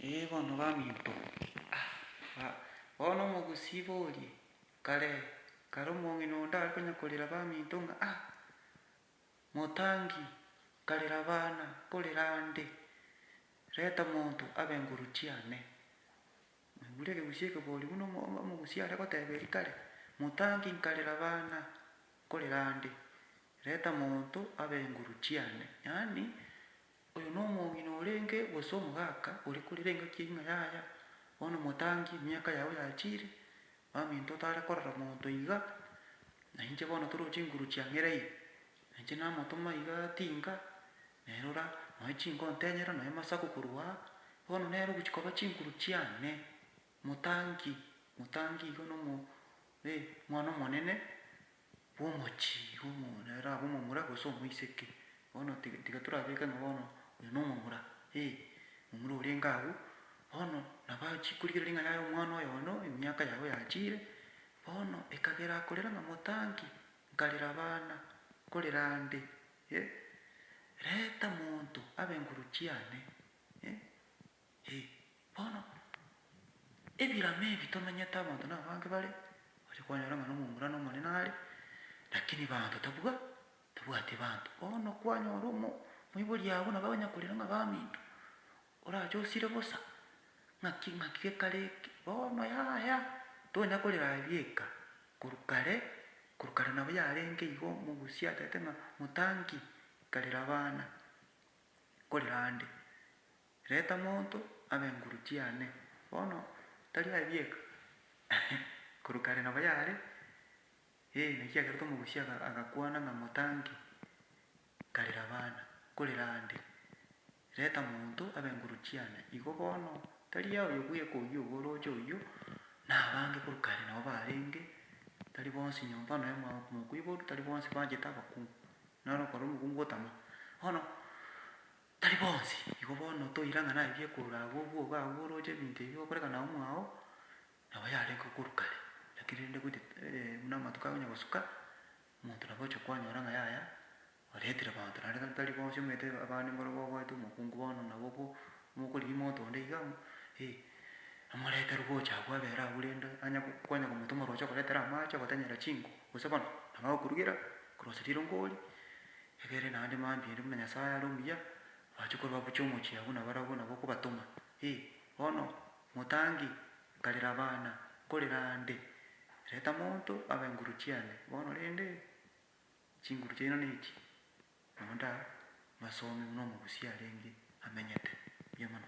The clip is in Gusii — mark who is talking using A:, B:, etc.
A: Ee bono baminto bono omogusii ibo orie, kare kare omong'ina onde are konya korera baminto ng'a ah motangi nkarera abana nkorera ande reta monto abe nguru chiane. Naigure ekegusii ekebori buna omogusii are goteba erio kare, motangi nkarera abana nkorera ande reta monto abe nguru chiane. Yaani. Oyo nomong'ina orenge gose omogaka oria korire engaki y'ing'a yaya, bono motangie emiaka yao yachire, baminto otare korora monto iga, na inche bono toro chinguru chia ng'ereire, na inche namotoma iga tinga, naye rora, noe chinga ontenyera, noe masaku korwa aa, bono nere ogochia koba chinguru chiane, motangi, motangi iga nomo, eh, omwana omonene. bw'omochie igo omong'ina arabe omomura gose omoiseke. Bono tiga tiga torabeke ng'a bono oyo nomomura, ee, momura orenge agwo, bono nabo achie korigereria ng'a yaye omwana oyo bono emiaka yabo yachiire, bono ekagera akorera ng'a motangi, nkarera abana, nkorera ande, eh, reta monto abe nguru chiane, eh. Ee, bono, ebiiramo ebi tomenyete abanto nabange bare, oche kwanyora ng'a nomomura nomonene are, lakini banto tabwa, tabwati banto. Bono kwanyora omo, omoibori agwo nabo agonya korera ng'a baminto, orache osire bosa, ng'aki ng'aki gekare eke, bono yaya, tonya korera aria eka, korwa kare, korwa kare nabo yarenge igo omogusii acharete ng'a motangi, karera abana, korera ande. Reta monto abe nguru chiane. Bono tari aye bieka, korwa kare nabo yare, ee, naki kiagerete omogusii aga, agakwana ng'a motange, nkarera abana, nkorera ande. Reta monto abe nguru chiane. Igo bono, tari aye oyo bweka oyio obo oroche oyio, na abange korwa kare nabo barenge, tari bonsi nyomba noe mwa, mokuya oboru, tari bonsi banchete abakungu, naro okora omokungu otama. Bono. Tari bonsi. Igo bono toira ng'a naye bi'ekorora agwo obwoba agwo oroche ebinto ebi gokoreka na omwao nabo yarenge okorwa kare, lakini rende goita buna amatuko agonya gosuka, omonto nabo oche kwanyora ng'a yaya oretire abanto naende gaki tari bonsi omanyete abande mbare bagoete omokungu bono nabo bo mokorigia omonto onde iga amo eh, amorete rogocha agwo abere agwo rende anya kwanya komotoma roche okoretera amache ogotanyera chinko, gose bono nabo agokorugera grocery ero nkoria Egere naende mambia ere buna Nyasae are omuya, bachia korua gochia omochie abwo nabarabwo nabo okobatoma. Ee, bono, motangi, nkarera abana, nkorera aande. Reta monto abe enguru chiane. Bono rende, chinguru chiaino nechi, nonda mbasome buna omogusia arenge amenyete. Mbuya mono.